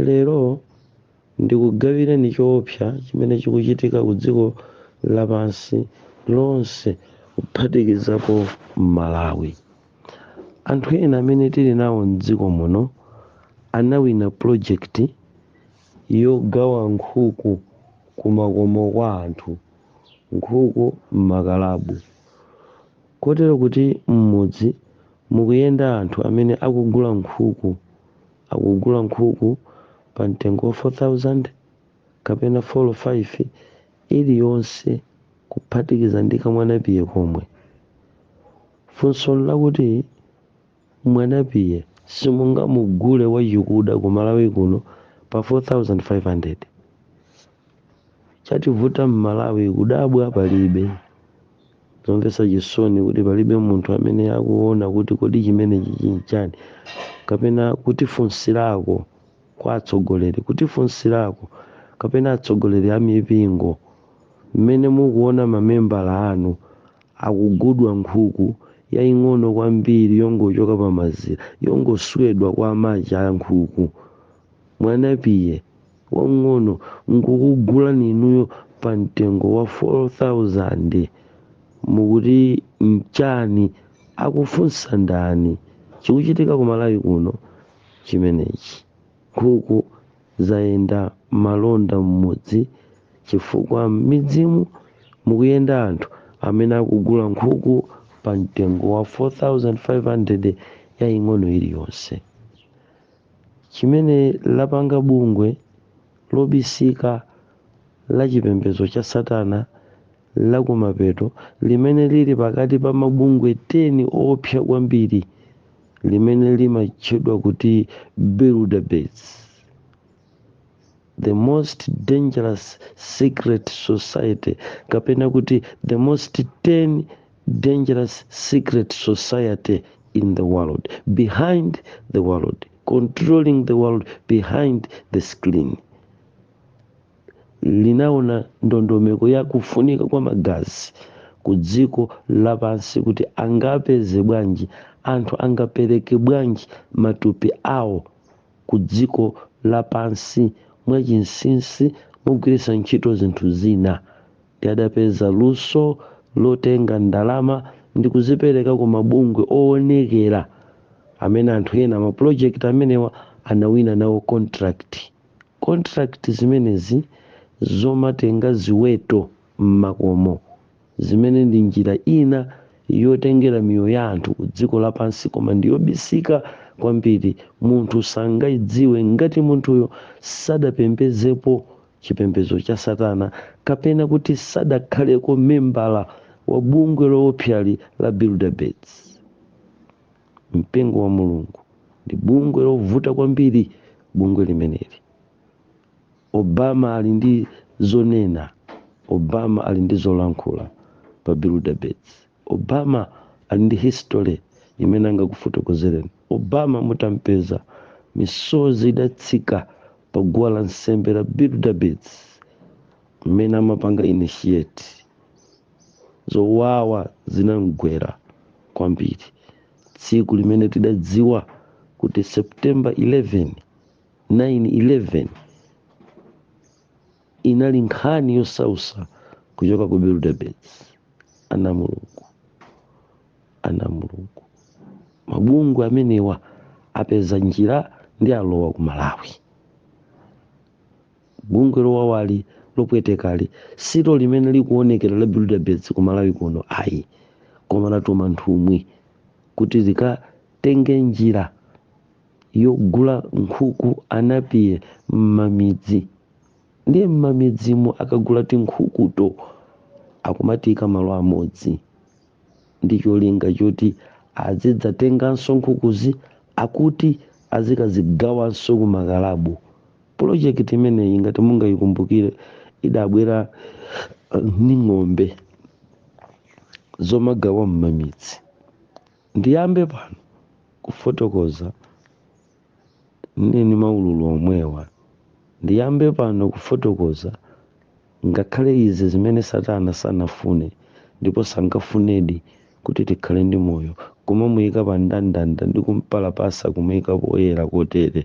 Lero, ndikugawireni choopsa chimene chikuchitika ku dziko lapansi lonse kuphatikizapo Malawi. Anthu ena amene tili nawo m'dziko muno anawina project yogawa nkhuku kumakomo kwa anthu, nkhuku m'makalabu. Kotero kuti m'mudzi mukuyenda anthu amene akugula nkhuku, akugula nkhuku pa mtengo wa 4,000 kapena folo faifi iliyonse kuphatikiza ndi kamwanapiye komwe. Funso n'lakuti. Mwanapiye simungamugule wachikuda ku Malawi kuno pa 4500. Chativuta mmalawi kudabwa palibe. Zomvetsa chisoni n'kuti palibe munthu amene akuona kuti kodi chimenechi chinchani kapena kutifunsirako kwa atsogoleri kutifunsirako kapena atsogoleri a mipingo mmene mukuona mamembala anu akugulidwa nkhuku yaying'ono kwambiri yongochoka pa mazira, yongoswedwa kwa amake a nkhuku, mwanapiye wamng'ono, nkukugulani inuyo pa mtengo wa 4,000. Mukuti nchani? Akufunsa ndani? Chikuchitika ku Malawi kuno chimenechi. Nkhuku Zayenda malonda m'mudzi chifukwa m'midzimu mukuyenda anthu amene akugula nkhuku pa mtengo wa 4500 yaying'ono iliyonse. Chimene lapanga bungwe lobisika la chipembezo cha satana lakumapeto, limene lili pakati pa mabungwe 10 oopsa kwambiri, limene limatchedwa kuti Bilderbergers, The Most Dangerous Secret Society, kapena kuti The Most 10 Dangerous Secret Society in the World, Behind the World, Controlling the World Behind the Screen. linaona ndondomeko ya kufunika kwa magazi ku dziko lapansi kuti angapeze bwanji, anthu angapereke bwanji matupi awo ku dziko lapansi mwachinsinsi mogwiritsa ntchito zinthu zina. Ndiye adapeza luso lotenga ndalama ndi kuzipereka ku mabungwe owonekera amene anthu ena mapulojekiti amenewa anawina nawo contract. contract zimenezi zomatenga ziweto m'makomo, zimene ndi njira ina yotengera miyoyo ya anthu ku dziko lapansi koma ndi yobisika kwambiri, munthu sangaidziwe ngati munthuyo sadapembezepo chipembezo cha satana kapena kuti sadakhaleko membala wa bungwe loopsali la Bilderbergs. mpingo wa mulungu ndi bungwe lovuta kwambiri bungwe limeneli obama ali ndi zonena obama ali ndi zolankhula pa Bilderbergs obama ali ndi history imene angakufotokozereni obama mutampeza misozi idatsika pa guwa la nsembe la Bilderbergs mmene amapanga initiate Zowawa zinam'gwera kwambiri tsiku limene tidadziwa kuti September 11, 9/11 inali nkhani yosausa kuchoka ku Bilderbergs. Ana Mulungu, ana Mulungu, mabungwe amenewa apeza njira ndi alowa ku Malawi. bungwe lowawali lopwetekali si limene likuonekera la bilderbergs ku malawi kuno ayi koma latuma nthumwi kuti zikatenge njira yogula nkhuku anapiye m'mamidzi ndiye m'mamidzimu akagula tinkhukuto akumatiika malo amodzi ndi cholinga choti azidzatenganso nkhukuzi akuti azikazigawanso ku makalabu pulojekiti imeneyi ngati mungayikumbukire idabwera uh, ndi ng'ombe zomagawa m'mamidzi ndiyambe pano kufotokoza neni maulula omwewa ndiyambe pano kufotokoza Ngakhale izi zimene Satana sanafune ndipo sangafunedi kuti tikhale ndi moyo, kumamuika pa mndandanda ndi kumpalapasa kumuika poyera kotere,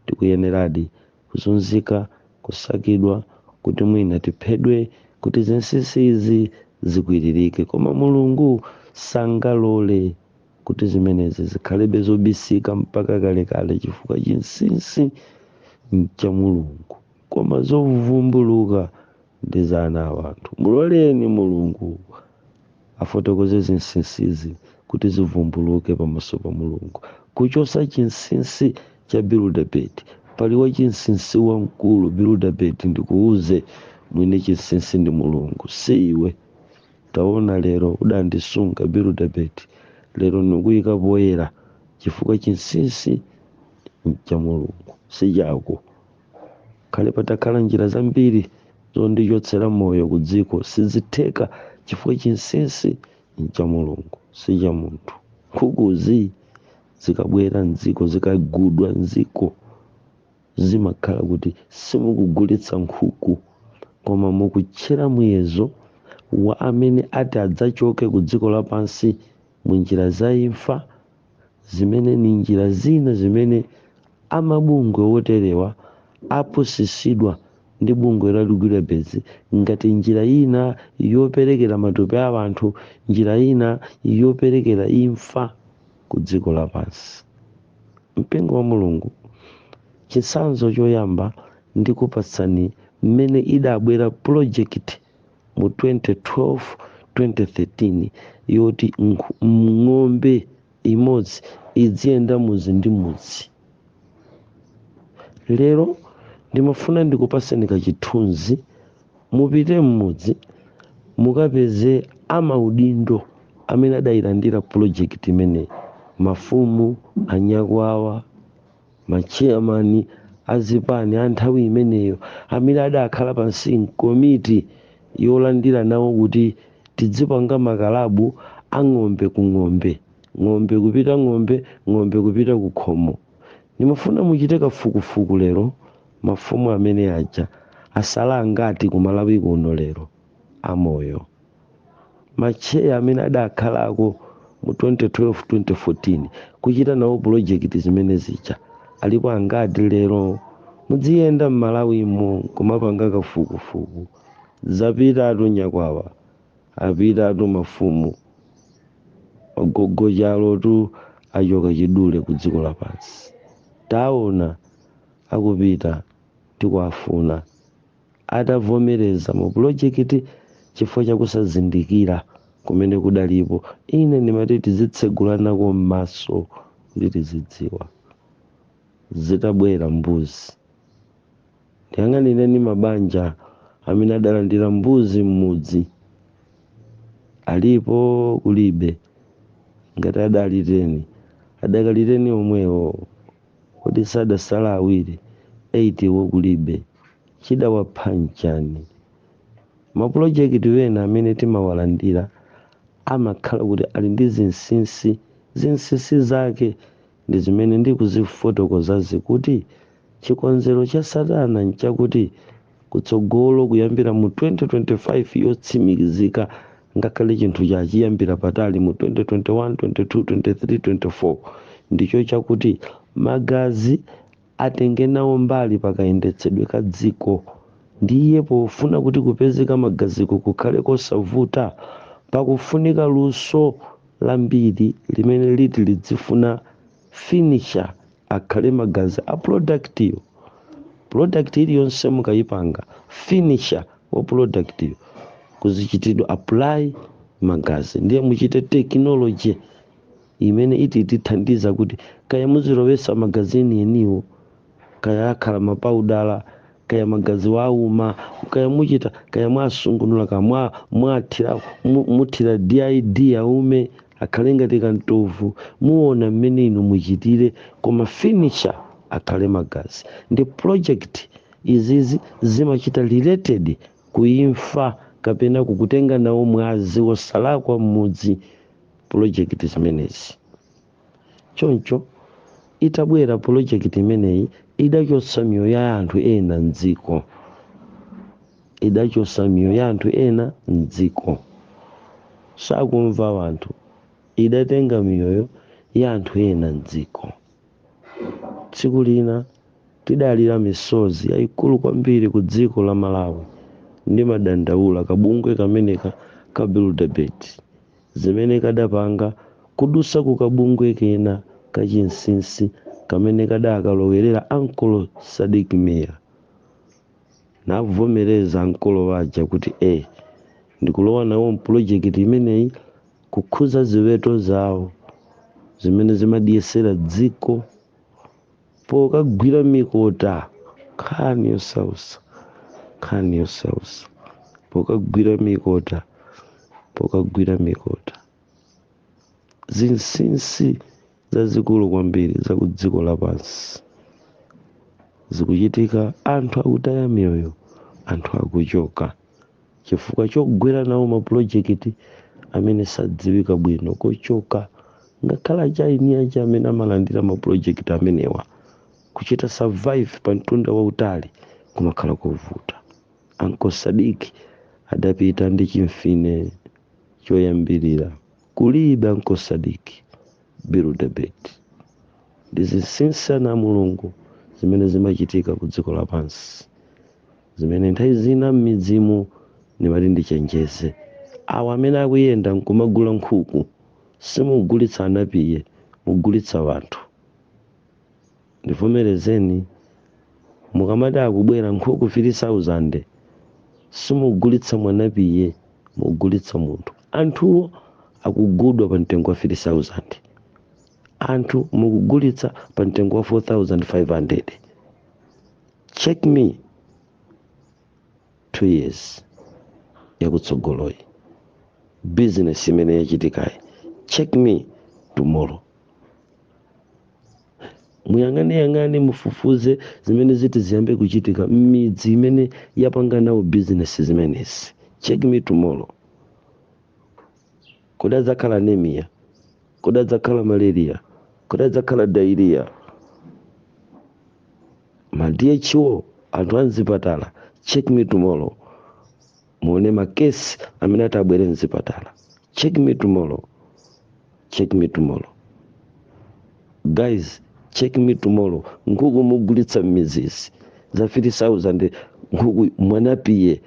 tikuyeneradi kuzunzika, kusakidwa, kuti mwina tiphedwe kuti zinsinsi izi zikwiririke. Koma Mulungu sangalole kuti zimenezi zikhalebe zobisika mpaka kalekale chifukwa chinsinsi n'cha Mulungu. koma zovumbuluka ndi za ana a anthu. Muloleni Mulungu afotokoze zinsinsizi kuti zivumbuluke pamaso pa Mulungu. Kuchotsa chinsinsi cha Bilderberg. Pali wachinsinsi wamkulu, Bilderberg, ndikuuze, mwini chinsinsi ndi Mulungu, si iwe. Taona, lero udandisunga, Bilderberg, lero ndikuika poyera, chifukwa chinsinsi ncha Mulungu, si chako. khale patakhala njira zambiri zondichotsera moyo ku dziko sizitheka chifukwa chinsinsi ncha mulungu si cha munthu nkhukuzi zikabwera mdziko zikagudwa mdziko zimakhala kuti simukugulitsa nkhuku koma mukutchera muyezo wa amene ati adzachoke ku dziko lapansi mu njira za imfa zimene ndi njira zina zimene amabungwe woterewa apusitsidwa ndi bungwe la Reguilebens ngati njira yina yoperekera matupi a banthu, njira yina yoperekera imfa ku dziko lapansi. Mpingo wa Mulungu, Chitsanzo choyamba ndikupatsani mmene idabwela pulojekiti. mu 2012 2013 yoti nkh- m- ng'ombe imodzi idziyenda mudzi ndi mudzi lero ndimafuna ndikupatseni kachithunzi mupite m'mudzi mukapeze amaudindo amene adayilandira pulojekiti imeneyi mafumu anyakwawa Matcheyamani a zipani a nthawi imeneyo amene adakhala pansi m'komiti yolandira nawo kuti tidzipanga makalabu a ng'ombe ku ng'ombe, ng'ombe kupita ng'ombe, ng'ombe kupita ku khomo. Ndimafuna muchite kafukufuku lero mafumu amene aja asala angati ku Malawi kuno lero amoyo. matcheya amene adakhalako mu 2012 2014 kuchita nawo pulojekiti zimene zija alipo angati lero mudziyenda m'malawimo nkumapanga kafukufuku zapitatu nyakwawa apitatu mafumu agogochalotu achoka chidule ku dziko lapansi taona akupita tikuwafuna atavomereza mu pulojekiti chifukwa cha kusazindikira kumene kudalipo. Ine ndimati tizitsegulanako mmaso kuti tizidziwa. Zitabwera mbuzi. Ndiyang'anireni mabanja amene adalandira mbuzi mmudzi. Alipo kulibe. Ngati adali teni, adakali teni omwewo. Kodi sadasala awiri 8 wo kulibe? Chidawapha nchani? Ma project ena amene timawalandira amakhala kuti ali ndi zinsinsi, zinsinsi zake ndi zimene ndikuzifotokozazi kuti chikonzero cha satana nchakuti kutsogolo kuyambira mu 2025 yotsimikizika ngakhale chinthu cha chiyambira patali mu 2021 22 23 24 ndicho chakuti magazi atenge nawo mbali pakayendetsedwe ka dziko ndiye pofuna kuti kupezeka magaziko kukhale kosavuta pakufunika luso lambiri limene liti lidzifuna finisher akhale magazi a product yo product iliyonse mukayipanga finisher wa product yo kuzichitidwa apply magazi ndiye muchite technology imene iti tithandiza kuti kaya muzilowesa magazi enieniwo kaya akhala mapaudala kaya magazi wauma kaya muchita kaya mwasungunula kaya mwa- mwathira mu- muthira did yaume akhale ngati kamtovu muona mmene inu muchitire koma finisher akhale magazi ndi project izizi zimachita related ku imfa kapena kukutenga nawo mwazi wosalakwa mmudzi project zimenezi Choncho, itabwera polojekiti imeneyi idachotsa miyoyo ya anthu ena m'dziko. Idachotsa miyoyo ya anthu ena m'dziko. Sakumva anthu. Idatenga miyoyo ya anthu ena m'dziko. Tsiku lina tidalira misozi yaikulu kwambiri ku dziko la Malawi. Ndimadandaula kabungwe kameneka ka Bilderberg. zimene kadapanga kudutsa ku kabungwe kena ka chinsinsi kamene kadaakalowerera ankolo Sadik Mia. Navomereza ankolo aja kuti e, ndikulowa nawo mpulojekiti imeneyi kukhudza ziweto zawo zimene zimadyetsera dziko. pokagwira mikota nkhani yosausa nkhani yosausa pokagwira mikota pokagwira mikota zinsinsi zazikulu kwambiri za ku dziko lapansi zikuchitika anthu akutaya miyoyo anthu akuchoka chifukwa chogwira nawo mapulojekiti amene sadziwika bwino kochoka ngakhale achaini aja amene amalandira mapulojekiti amenewa kuchita survive pa mtunda wautali kumakhala kovuta anko sadiki adapita ndi chimfine choyambirira kulibe anko sadiki bilderberg ndi zinsinsi ana a mulungu zimene zimachitika ku dziko lapansi zimene nthawi zina m'midzimu ndimati ndichenjeze awo amene akuyenda nkumagula nkhuku simugulitsa anapiye mugulitsa wanthu ndimvereni mukamati akubwera nkhuku 3000 simugulitsa mwanapiye mugulitsa munthu anthuwo akugudwa pa mtengo wa 3000 anthu mukugulitsa pa mtengo wa 4500 check me two years yakutsogoloyi business imene yachitikayi check me tomorrow muyang'aniyang'ani mufufuze zimene ziti ziyambe kuchitika m'midzi imene yapanga nawo business zimenezi check me tomorrow kodi adzakhala anemia kodi adzakhala malaria kodi adzakhala diarrhea ma DHO anthu amzipatala check me tomorrow muone makesi amene ati abwere mzipatala check me tomorrow check me tomorrow guys check me tomorrow nkhuku mugulitsa m'midzizi za 3000 nkhuku mwanapiye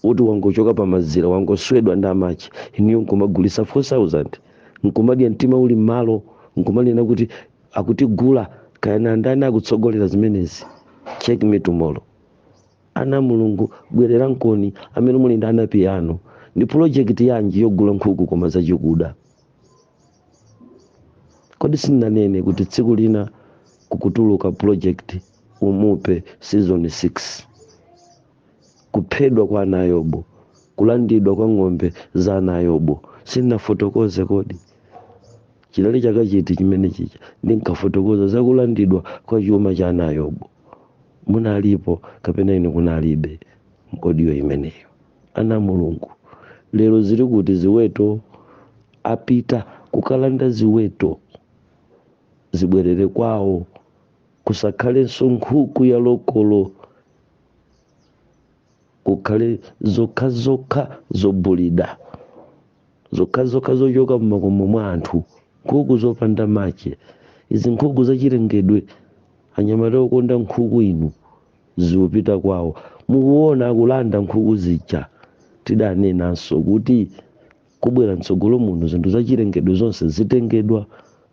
woti wangochoka pa mazira wangoswedwa ndi amache inuyo nkumagulisa 4000 nkumadya mtima uli mmalo nkumanena kuti akutigula kayana andani akutsogolera zimenezi check me tomorrow ana a mulungu bwererankoni amene muli ndi anapiye anu ndi pulojekiti yanji yogula nkhuku koma zachikuda kodi sindinanene kuti tsiku lina kukutuluka pulojekiti umupe season 6 kuphedwa kwa ana a Yobu, kulandidwa kwa ng'ombe za ana a Yobu. Sindinafotokoze kodi? Chinali chaka chiti chimene chija ndinkafotokoza za kulandidwa kwa chuma cha ana a Yobu? Munalipo kapena inu kunalibe m'audio imeneyo? Ana a Mulungu, lero zili kuti ziweto? Apita kukalanda ziweto, zibwerere kwawo, kusakhalenso nkhuku ya lokolo. kukhale zokhazokha zobulida zokhazokha zochoka m'makomo mwa anthu nkhuku zopanda mache izi nkhuku zachilengedwe anyamata okonda nkhuku inu zikupita kwawo mukuona akulanda nkhuku zija tidanenanso kuti kubwera mtsogolo muno zinthu zachilengedwe zonse zitengedwa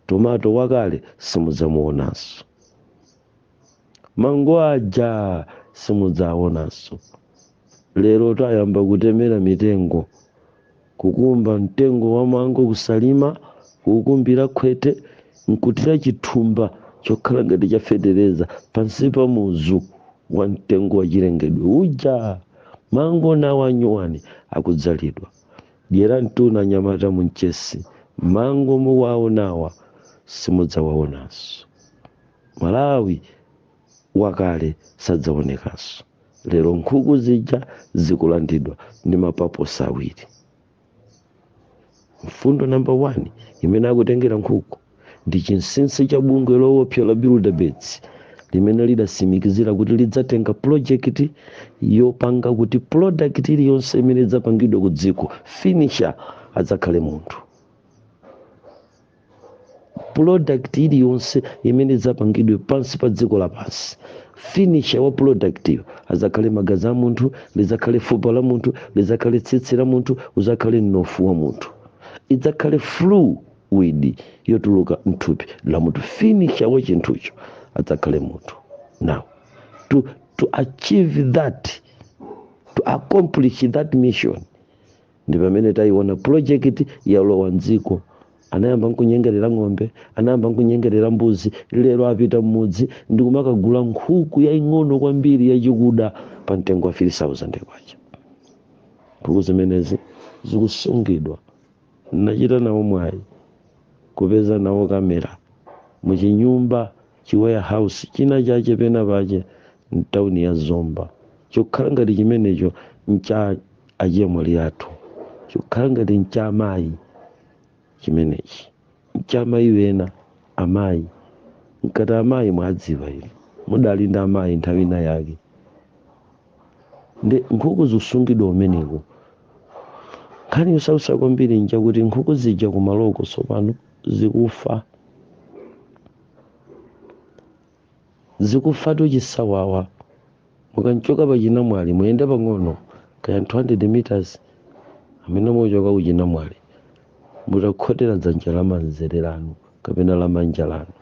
tomato wakale simudzamuonanso mango aja simudzaonanso lero tayamba kutemera mitengo kukumba mtengo wa mango kusalima kukumbira khwete nkutira chithumba chokhala ngati chafetereza pansi pa muzu wa mtengo wa chilengedwe uja mango nawo anyuwani akudzalidwa dyera mtuna nyamata munchesi mango muwaonawa simudzawaonanso Malawi wakale sadzaonekanso. Lero nkhuku zija zikulandidwa ndi mapaposi awiri. Mfundo number 1 imene akutengera nkhuku ndi chinsinsi cha bungwe lowopsa la Bilderbergs limene lidasimikizira kuti lidzatenga pulojekiti yopanga kuti product iliyonse imene idzapangidwe ku dziko finisher adzakhale munthu. product iliyonse imene idzapangidwe pansi pa dziko lapansi finisha wa productiyo adzakhale magazi a munthu lidzakhale fupa la munthu lidzakhale tsitsi la munthu udzakhale mnofu wa munthu idzakhale fluid yotuluka mthupi la munthu finisha wa chinthucho adzakhale munthu now to, to achieve that to accomplish that mission ndi pamene tayiona pulojekiti yalowa mdziko anayamba nkunyengerera ng'ombe anayamba nkunyengerera mbuzi lero apita mmudzi ndi kumakagula nkhuku yaying'ono kwambiri yachikuda pa mtengo wa 3000 kwacha nkhuku zimenezi zikusungidwa nachita nawo mwayi kupeza nawo kamera muchinyumba chi warehouse china chache pena pache mtauni ya Zomba chokhala ngati chimenecho ncha achemwali athu chokhala ngati ncha amayi chimenechi ncha amayi wena amayi nkati amayi mwadziwa inu mudali ndi amayi nthawi ina yake nde nkhuku zikusungidwa kumeneko nkhani yosausa kwambiri nja kuti nkhuku zija kumaloko tsopano zikufa zikufatu chisawawa mukanchoka pa chinamwali muyende pang'ono kaya 200 meters amene muchoka ku chinamwali mutakhotera dzanja la manzere lanu kapena la manja lanu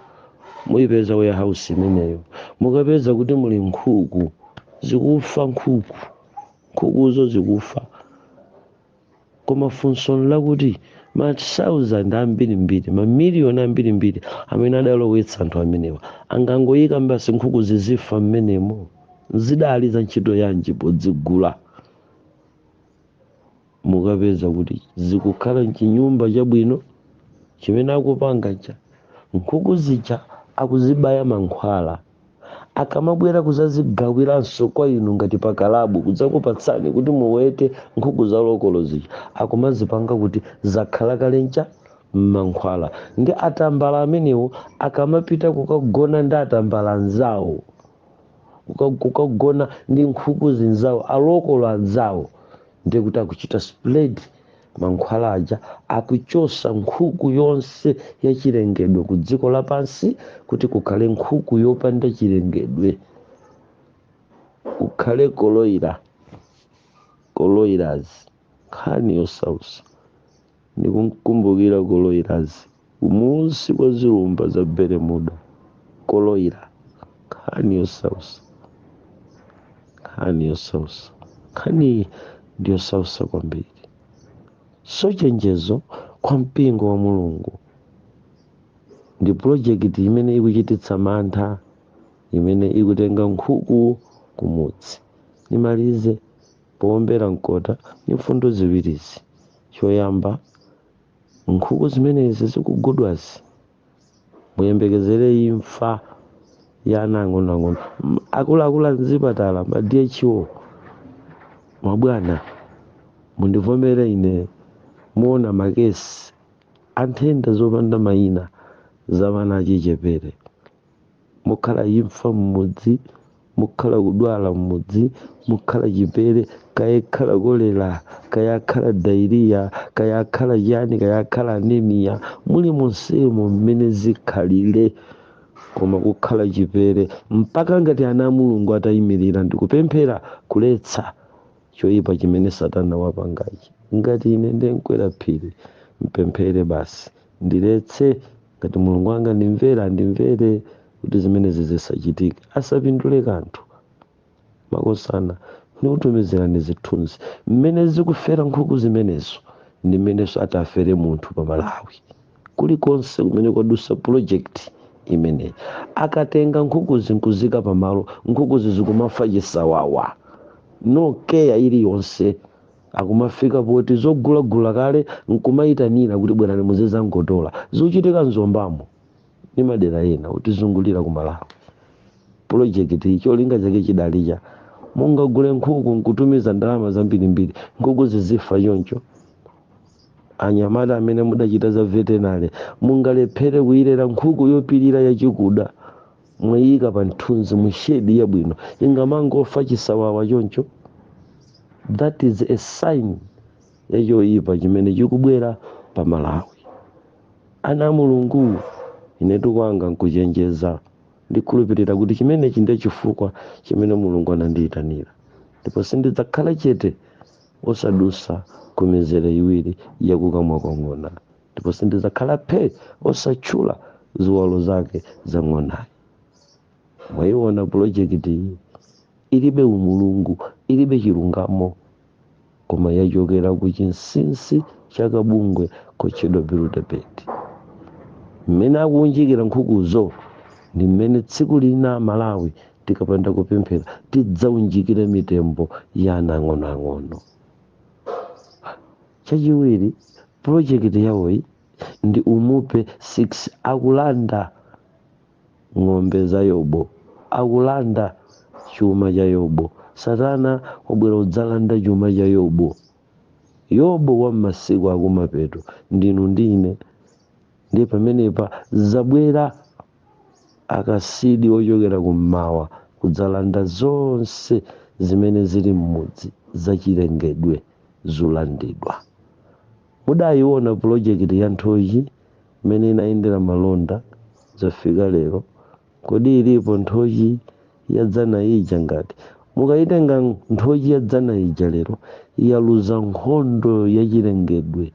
muyipeza warehouse imeneyo mukapeza kuti muli nkhuku zikufa nkhuku nkhukuzo zikufa Koma funso nlakuti, masauzande ambirimbiri, mamiliyoni ambirimbiri amene adalowetsa anthu amenewa, angangoika basi nkhuku zizifa m'menemo? Zidali za ntchito yanji podzigula? Mukapeza kuti zikukhala m'chinyumba chabwino chimene akupanga ncha, nkhuku zija akuzibaya mankhwala. akamabwera kuzazigawiranso kwa inu ngati pa kalabu kudzakupatsani kuti muwete nkhuku za lokolo zija akumazipanga kuti zakhala kale ncham'mankhwala ndi atambala amenewo akamapita kukagona ndi atambala anzawo kuka- kukagona ndi nkhuku zinzawo alokolo anzawo ndiye kuti akuchita spread mankhwala aja akuchosa nkhuku yonse yachilengedwe ku dziko lapansi kuti kukhale nkhuku yopanda chilengedwe kukhale koloyirazi koloyirazi nkhani yosausa ndikumkumbukira koloyirazi Kumunsi kwa zilumba za Bermuda koloira, nkhani yosausa, nkhani yosausa, nkhaniyi ndi yosausa kwambiri. So chenjezo kwa mpingo wa Mulungu ndi pulojekiti imene ikuchititsa mantha imene ikutenga nkhuku kumudzi. Ndimalize powombera mkota ndi mfundo ziwirizi. Choyamba, Nkhuku zimenezi zikugulidwazi muyembekezere imfa ya ana ang'onoang'ono. M- Akuluakulu a mzipatala ma DHO mabwana, mundivomere ine muona makesi a nthenda zopanda mayina za ana achichepere. mukhala imfa m'mudzi mukhala kudwala m'mudzi mukhala chipere kaya ikhala kolera kaya akhala dairiya kaya akhala chani kaya akhala anemiya mulimonsemo mmene zikhalire koma kukhala chipere mpaka ngati ana a mulungu atayimirira ndikupemphera kuletsa choyipa chimene satana wapangachi ngati ine ndemkwera phiri mpemphere basi ndiletse ngati mulungu angandimvere andimvere kuti zimenezi zisachitike asapindule kanthu makosana ndikutumizirani zithunzi mmene zikufera nkhuku zimenezo ndi mmenenso atafere munthu pa malawi kulikonse kumene kwadusa pulojekiti imeneyi akatenga nkhukuzi nkuzika pamalo nkhukuzi zikumafa chisawawa no keya iliyonse Akumafika poti zogulagula kale nkumayitanira kuti bwerani muzizangotola. Zikuchitika mu Zombamo ndi madera ena otizungulira ku Malawi. Pulojekitiyi cholinga chake chidali cha mungagule nkhuku nkutumiza ndalama zambirimbiri, nkhuku zizifa choncho. Anyamata amene mudachita za vetenale mungalephere kuyilera nkhuku yopirira yachikuda. mwayika pa mthunzi mu shade yabwino ingamangofa chisawawa choncho that is a sign ya choyipa chimene chikubwera pa malawi ana a mulungu ine kwanga nkuchenjeza ndikhulupirira kuti chimenechi ndiye chifukwa chimene mulungu anandiyitanira ndipo sindidzakhala chete osadusa ku mizere iwiri yakukamwa kwa ng'ona ndipo sindidzakhala phe osatchula ziwalo zake za ng'onayo mwayiona pulojekiti iyi ilibe umulungu ilibe chilungamo koma yachokera ku chinsinsi cha kabungwe kotchedwa biludebeti mmene akuunjikira nkhukuzo ndi mmene tsiku lina Amalawi tikapanda kupemphera tidzaunjikire mitembo ya ana ang'onoang'ono Chachiwiri, pulojekiti yawoyi ndi Umupe 6 akulanda ng'ombe za Yobo, akulanda chuma cha Yobo. Satana wabwera kudzalanda chuma cha Yobo, Yobo wa m'masiku akumapeto, ndinu ndi ine. Ndiye pamenepa adzabwera akasidi ochokera kummawa kudzalanda zonse zimene zili m'mudzi zachilengedwe. zulandidwa. Mudayiwona pulojekiti ya nthochi mmene inayendera malonda zafika lero kodi ilipo nthochi yadzana ija ngati mukayitenga nthochi yadzana ija lero yaluza nkhondo yachilengedwe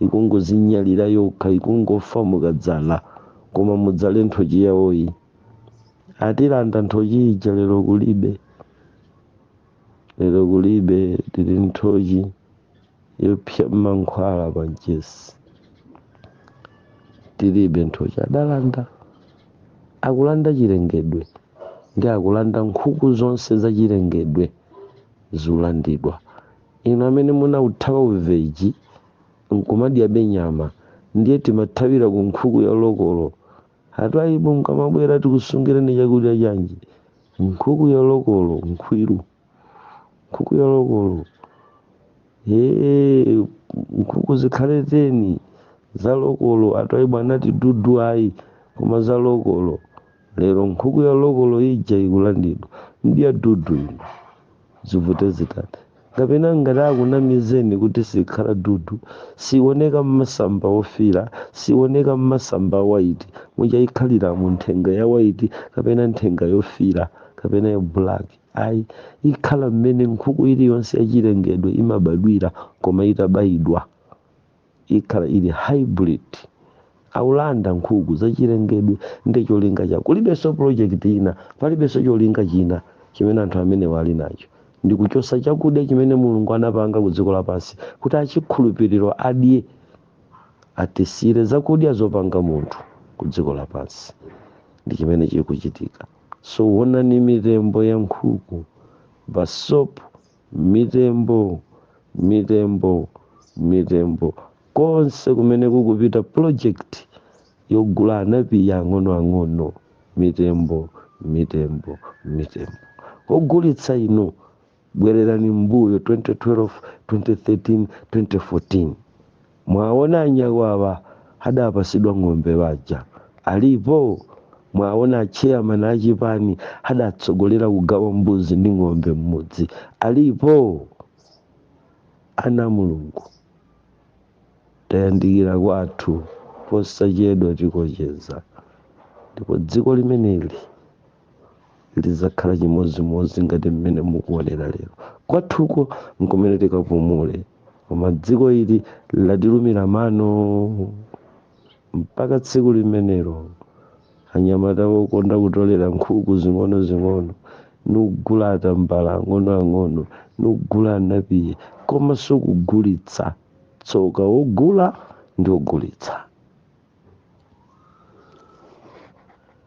ikungozinyalira yokha ikungofa mukadzala koma mudzale nthochi yawoyi atilanda nthochi ija lero kulibe. lero kulibe tili nthochi yopsa m'mankhwala pa mchesi tilibe nthochi adalanda akulanda chilengedwe ndiye akulanda nkhuku zonse za chilengedwe zilandidwa inu amene munauthawa uveji nkumadyabe nyama ndiye timathawira ku nkhuku ya lokolo Atwaibu mkamabwera tikusungireni chakudya chanji? Nkhuku ya lokolo, nkhwiru. Nkhuku ya lokolo. Eee, nkhuku zikhale teni za lokolo. Atwaibu anati dudu ayi koma za lokolo. Lero nkhuku ya lokolo ija ikulandidwa. Mdya dudu inu. zivute zitani kapena ngati akunamizeni kuti sikhala dudu sioneka mmasamba ofiira sioneka mmasamba a waiti muja ikhaliramu nthenga ya waiti kapena nthenga yofiira kapena ya black ayi ikhala mmene nkhuku iliyonse yachilengedwe imabadwira koma itabayidwa ikhala ili hybrid aulanda nkhuku zachilengedwe nde cholinga chao kulibenso project ina palibenso cholinga china chimene anthu amenewa ali nacho ndi kuchosa chakudya chimene mulungu anapanga ku dziko lapansi kuti achikhulupiriro adye atisiyire zakudya zopanga munthu ku dziko lapansi ndi chimene chikuchitika so onani mitembo ya nkhuku basopu mitembo mitembo mitembo konse kumene kukupita project yogula anapiye ang'onoang'ono mitembo mitembo mitembo ogulitsa inu bwererani m'mbuyo 2012 2013 2014 Mwaona anyakwawa adapasidwa ng'ombe aja alipo? Mwaona a chairman a chipani adatsogolera kugawa mbuzi ndi ng'ombe mmudzi alipo? Ana a Mulungu tayandikira kwathu posachedwa tikocheza ndipo dziko limeneli lidzakhala chimodzimodzi ngati mmene mukuonera lero kwathuko nkumene tikapumule koma dziko ili latilumira mano mpaka tsiku limenelo anyamata okonda kutolera nkhuku zing'onozing'ono nkugula atambala ang'onoang'ono nkugula anapiye komanso kugulitsa tsoka ogula ndi ogulitsa